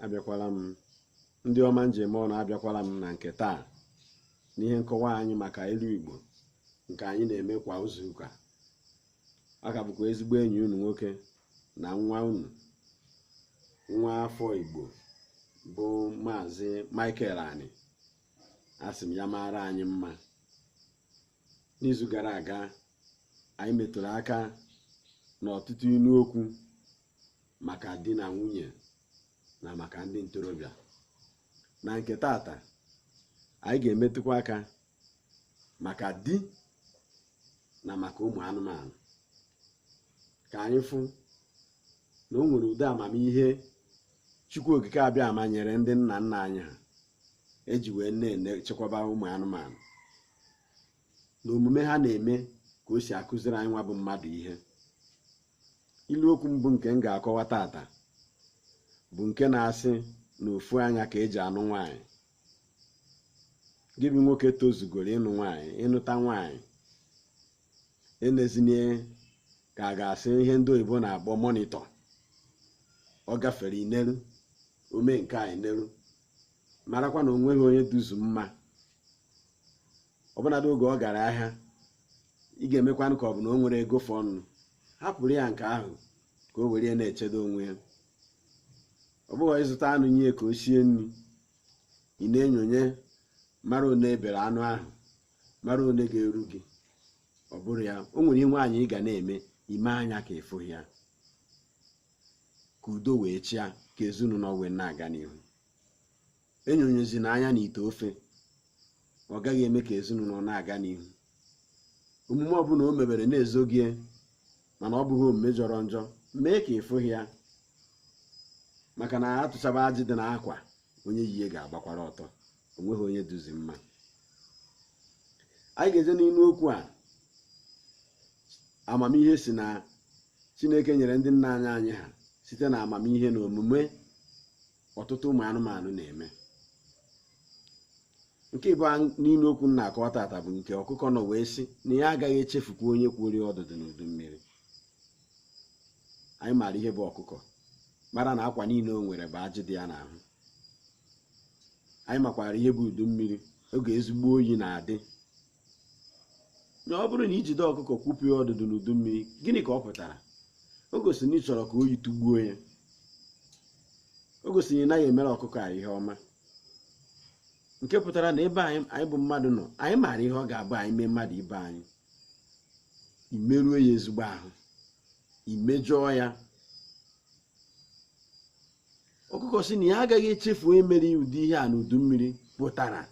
abịakwala m ndị ọma m ji eme ọnụ abịakwala m na nke taa n'ihe nkọwa anyị maka ilu igbo nke anyị na-eme kwa izuụka ọ ka bụkwa ezigbo enyi unu nwoke na nwa unu nwa afọ igbo bụ maazị michael ani asị m ya maara anyị mma n'izu gara aga anyị metụrụ aka n'ọtụtụ ilu okwu maka di na nwunye na maka ndị ntorobịa na nke tata anyị ga-emetụkwa aka maka di na maka ụmụ anụmanụ ka anyị fụ na o nwere ụdị amamihe chukwu okike abịama nyere ndị nna nna anyị ha eji wee na-echekwaba ụmụ anụmanụ na omume ha na-eme ka o si akụziri anyị nwa bụ mmadụ ihe ilu okwu mbụ nke m ga-akọwa tata bụ nke na-asị na ofu anya ka eji anụ nwaanyị gị bụ nwoke tozugoro ịnụ nwaanyị ịnụta nwaanyị enezina ya ka a ga-asị ihe ndị oyibo na-akpọ monitor ọ gafere i neru o mee nke a i neru marakwa na o nweghị onye duzu mma ọbụnadị oge ọ gara ahịa ị ga-emekwanụ ka ọ bụ na o nwere ego fọnụ hapụrụ ya nke ahụ ka o were ya na-echedo onwe ya ọ bụghị ị zụta anụ nye ka o sie nri ị na-enyonye mara one e bere anụ ahụ mara one ga-eru gị ọ bụrụ ya o nwere ihe nwaanyị ga na-eme i mee anya ka ị fụghị ya ka udo wee chịa ka ezinụlọ wee na-aga n'ihu enyonyezina anya na ite ofe ọ gaghị eme ka ezinụlọ na-aga n'ihu omume ọbụla o mebere na-ezoghị ya, mana ọ bụghị omume jọrọ njọ mee ka ị fụghị ya maka na a tụchaba ajị dị n'akwa onye yi ya ga-agbakwara ọtọ o nweghị onye duzi mma anyị ga-eje n'ilu okwu a amamihe si na chineke nyere ndị nna nna anyị ha site na amamihe na omume ọtụtụ ụmụ anụmanụ na-eme nke ịbụa n'ilu okwu m na-akọwa tata bụ nke ọkụkọ nọ wee sị na ya agaghị echefukwa onye kworo ọdụdụ n'udu mmiri anyị maara ihe bụ ọkụkọ mara na akwa niile o nwere bụ ajị dị ya n'ahụ anyị makwara ihe bụ udu mmiri oge ezigbo oyi na-adị na ọ bụrụ na i jide ọkụkọ kwụpụ ya ọdụdụ n'udu mmiri gịnị ka ọ pụtara o gosiri na ị chọrọ ka oyi tụgbuo ya o gosiri na ị naghị emere ọkụkọ a ihe ọma nke pụtara na ebe anyị bụ mmadụ nọ anyị maara ihe ọ ga-abụ anyị mee mmadụ ibe anyị imerue ya ezigbo ahụ imejọọ ya ọkụkọ sị na ya agaghị echefu onye mere ụdị ihe a n'udu mmiri pụtara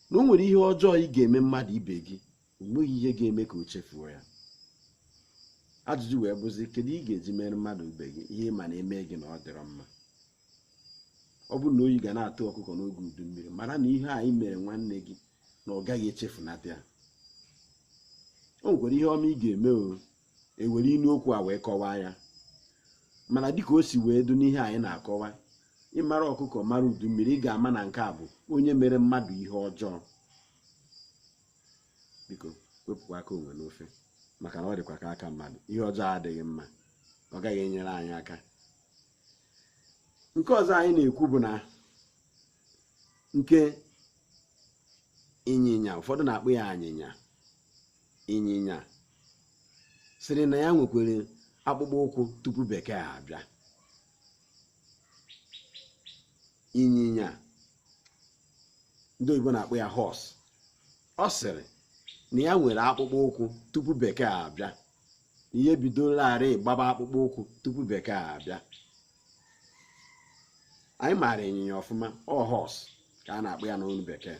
na o nwere ihe ọjọọ ị ga-eme mmadụ ibe gị o nweghị ihe ga-eme ka o chefuo ya ajụjụ wee bụzi kedu ị ga-eji mere mmadụ ibe gị ihe ị ma na e mee gị na ọ dịrọ mma ọ bụrụ na oyi ga na-atụ ọkụkọ n'oge udu mmiri mara na ihe anyị mere nwanne gị na ọ gaghị echefunata ya o nwekwara ihe ọma ị ga-eme o e were inu okwu a wee kọwaa ya mana dịka o si wee dụ n'ihe anyị na-akọwa ị mara ọkụkọ mara udu mmiri ị ga-ama na nke a bụ onye mere mmadụ ihe ọjọọ biko wepụkwa aka enwe n'ofe maka na ọ dịkwa ka aka mmadụ ihe ọjọọ adịghị mma ọ gaghị enyere anyị aka nke ọzọ anyị na-ekwu bụ na nke ịnyịnya ụfọdụ na-akpọ ya anyịnya ịnyịnya sịrị na ya nwekwere akpụkpọ ụkwụ tupu bekee abịa ịnyịnya ndị oyibo na-akpọ ya horse ọ sịrị na ya nwere akpụkpọ ụkwụ tupu bekee abịa na ya ebidolarị gbaba akpụkpọ ụkwụ tupu bekee abịa anyị maara ịnyịnya ọfụma ọ horse ka a na-akpọ ya n'olu bekee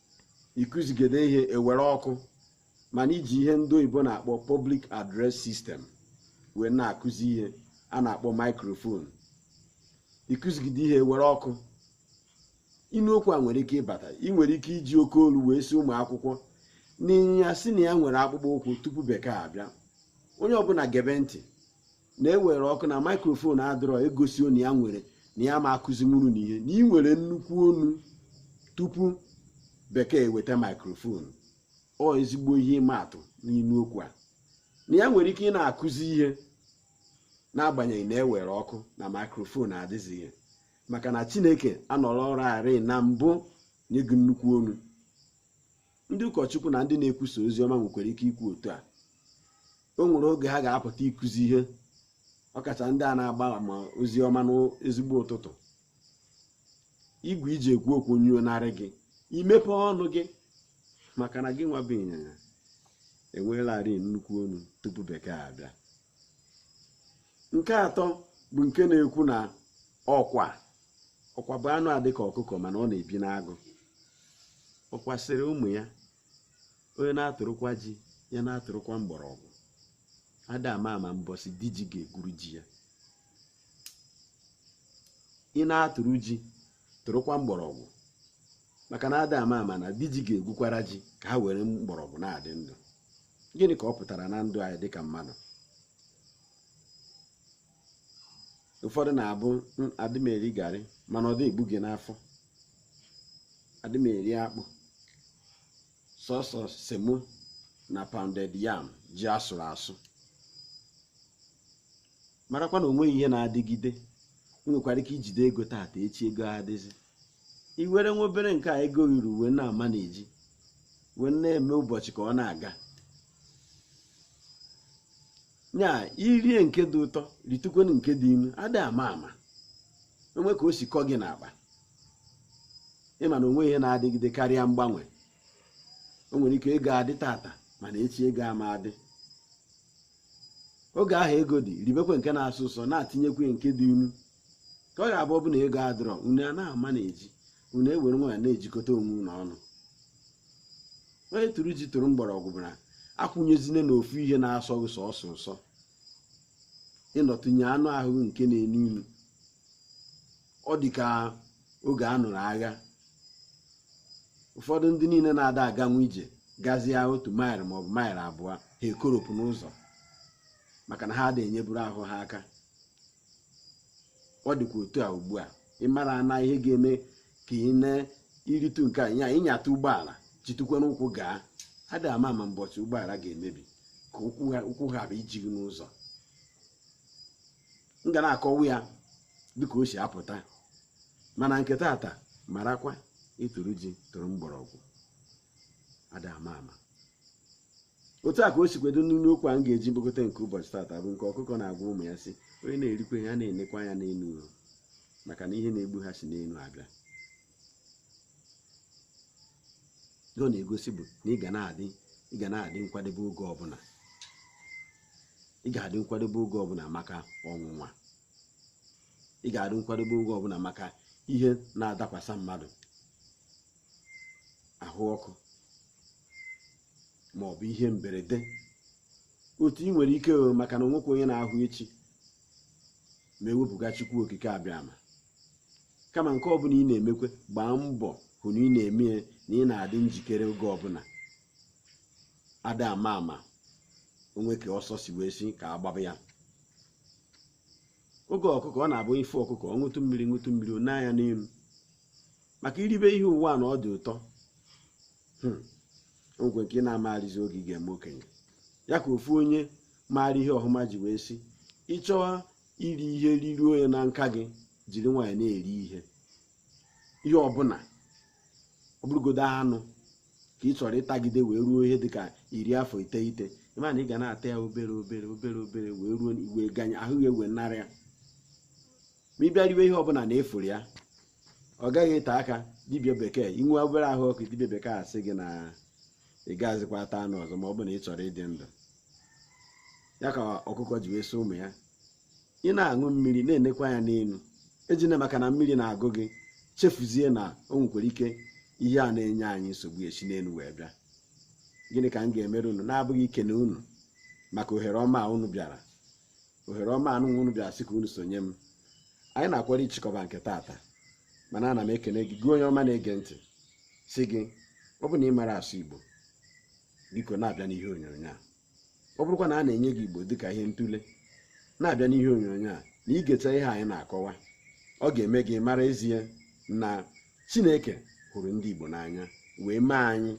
ị kụzigide ihe e were ọkụ mana i ji ihe ndị oyibo na-akpọ public address system wee na-akụzi ihe a na-akpọ microphone ị kụzigide ihe e were ọkụ inu okwu a nwere ike ịbata ị nwere ike iji oke olu wee sị ụmụ akwụkwọ na ịnyịnya sị na ya nwere akpụkpọ ụkwụ tupu bekee abịa onye ọbụla gebe ntị na e were ọkụ na microphone adịrọ egosi onu ya nwere na ya ma akụzi nwuru na ihe na ị nwere nnukwu onu tupu bekee eweta microphone ọ ezigbo ihe ịma atụ n'inu okwu a na ya nwere ike ịna-akụzi ihe n'agbanyeghị na e were ọkụ na microphone adịzighị maka na chineke anọrọlarị na mbụ nye gị nnukwu onu ndị ụkọchukwu na ndị na-ekwusa ozi ọma nwekwara ike ikwu otu a o nwere oge ha ga-apụta ịkụzi ihe ọkacha ndị a na-agba ama ozi ọma n'ezigbo ụtụtụ igwe i ji ekwu okwu nyụọnarị gị i mepe ọnụ gị maka na gị nwa bụ ịnyịnya enweelarị nnukwu onu tupu bekee abịa nke atọ bụ nke na-ekwu na ọkwa ọkwa bụ anụ a dịka ọkụkọ mana ọ na-ebi n'agụ ọkwa sịrị ụmụ ya onye na-atụrụkwa ji ya na-atụrụkwa mgbọrọgwụ ada ama ama mbọsị di ji ga-egwuru ji ya ị na-atụrụ ji tụrụkwa mgbọrọgwụ maka na ada ama ama na di ji ga-egwukwara ji ka ha were mgbọrọgwụ na-adị ndụ gịnị ka ọ pụtara na ndụ anyị dịka mmadụ ụfọdụ na-abụ adị m eri garị mana ọ dị egbu gị n'afọ adị m eri akpụ sọsọ semo na pounded yam ji asụrụ asụ marakwa na onweghị ihe na-adịgide ị nwekwara ike ijide ego taata echi ego adịzi i were nwa obere nke a ego ruru wee na-ama na-eji wee na-eme ụbọchị ka ọ na-aga nya irie nke dị ụtọ ritukwenụ nke dị inu ada ama ama o nwee ka o si kọ gị n'akpa ịma na onweghị ihe na-adịgide karịa mgbanwe o nwere ike ego adị tata mana echi ego ama adị oge ahụ ego dị ribekwe nke na-asọ ụsọ na-atinyekwe nke dị inu ka ọ ga-abụ ọbụna ego adịrọ unu a na-ama na-eji unu ewere nwayọ na-ejikọta onwe unu ọnụ onye tụrụ ji tụrụ mgbọrọgwụ bụ na akwụnyezine na ofu ihe na-asọ gị sọsọ ụsọ ịnọtụnye anụ ahụ nke na-enu inu ọ dị ka oge a nụrụ agha ụfọdụ ndị niine na-ada aganwu ije gazie otu maịlụ maọbụ maịlụ abụọ ha ekoropụ n'ụzọ maka na ha ada enyeburu ahụ ha aka ọ dịkwa otu a ugbu a ịmara na ihe ga-eme ka ị na-iritu nke a ịnyata ụgbọala jitukwa n'ụkwụ gaa ada ama ama mbọchị ụgbọala ga-emebi ka ụkwụ hapụ iji gị n'ụzọ m ga na-akọwa ya dịka o si apụta mana nke tata marakwa ị tụrụ ji tụrụ mgbọrọgwụ ada ama ama otu a ka o sikwe dị n'inu okwu a m ga-eji kpokọta nke ụbọchị tata bụ nke ọkụkọ na-agwa ụmụ ya sị onye na-erikwa ihe ya na-enekwa anya n'enu maka na ihe na-egbu ha si n'enu abịa ihe ọ na-egosi bụ na ị ga na-adị ị ga na-adị nkwadebe oge ọbụna ị ga-adị nkwadebe oge ọbụna maka ọnwụnwa ị ga-adị nkwadebe oge ọbụna maka ihe na-adakwasa mmadụ ahụ ọkụ ma ọ bụ ihe mberede otu ị nwere ike maka na onwekwa onye na-ahụ echi ma ewepụga Chukwu okike abịama kama nke ọbụla ị na-emekwe gbaa mbọ hụ na ị na-eme ya na ị na-adị njikere oge ọbụla ada ama ama o nwee ka ọsọ si wee si ka agbaba ya oge ọkụkọ ọ na-abụ ị fụ ọkụkọ ọ ṅụtụ mmiri ṅụtụ mmiri o nee anya n'elu maka iribe ihe ụwa a na ọ dị ụtọ hmm. ngwe nke ị na-amaghịzi oge ị ga-eme okenye ya ka ofu onye maara ihe ọhụma ji wee sị ị chọwa iri ihe riruo ya na nka gị jiri nwayọ na-eri ihe ihe ọbụla ọ bụrụgodo anụ ka ị chọrọ ịtagide wee ruo ihe dịka iri afọ iteghete ị ma na ị ga na-ata ya obere obere obere obere wee ruo iwe ganye ahụ ya ewe narị ya ma ị bịa riwe ihe ọbụla na-efuru ya ọ gaghị ete aka dibịa bekee i nwee obere ahụ ọkụ dibịa bekee asị gị na ị gaghịzikwa ata anụ ọzọ ma ọ bụ na ị chọrọ ịdị ndụ ya ka ọkụkọ ji wee sị ụmụ ya ị na-aṅụ mmiri na-enekwa anya n'elu ejina maka na mmiri na-agụ gị chefuzie na o nwekwara ike ihe a na-enye anyị nsogbu esi n'elu wee bịa gịnị ka m ga-emere unu na-abụghị ikene unu maka ohere ọma a unu bịara ohere ọma a unu bịara sị ka unu sonye m anyị na-akwado ịchịkọba nke taata mana ana m ekene gị gị onye ọma na-ege ntị sị gị ọ bụ na ị mara asụ Igbo biko na-abịa n'ihe onyonyo a ọ bụrụkwa na a na-enye gị igbo dịka ihe ntụle na-abịa n'ihe onyonyo a na i geta ihe anyị na-akọwa ọ ga-eme gị mara ezie na chineke hụrụ ndị igbo n'anya wee mee anyị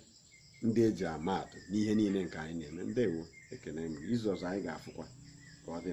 ndị eji ama atụ n'ihe niile nke anyị na-eme ndewo ekene m izu ọzọ anyị ga-afụkwa ka ọ dị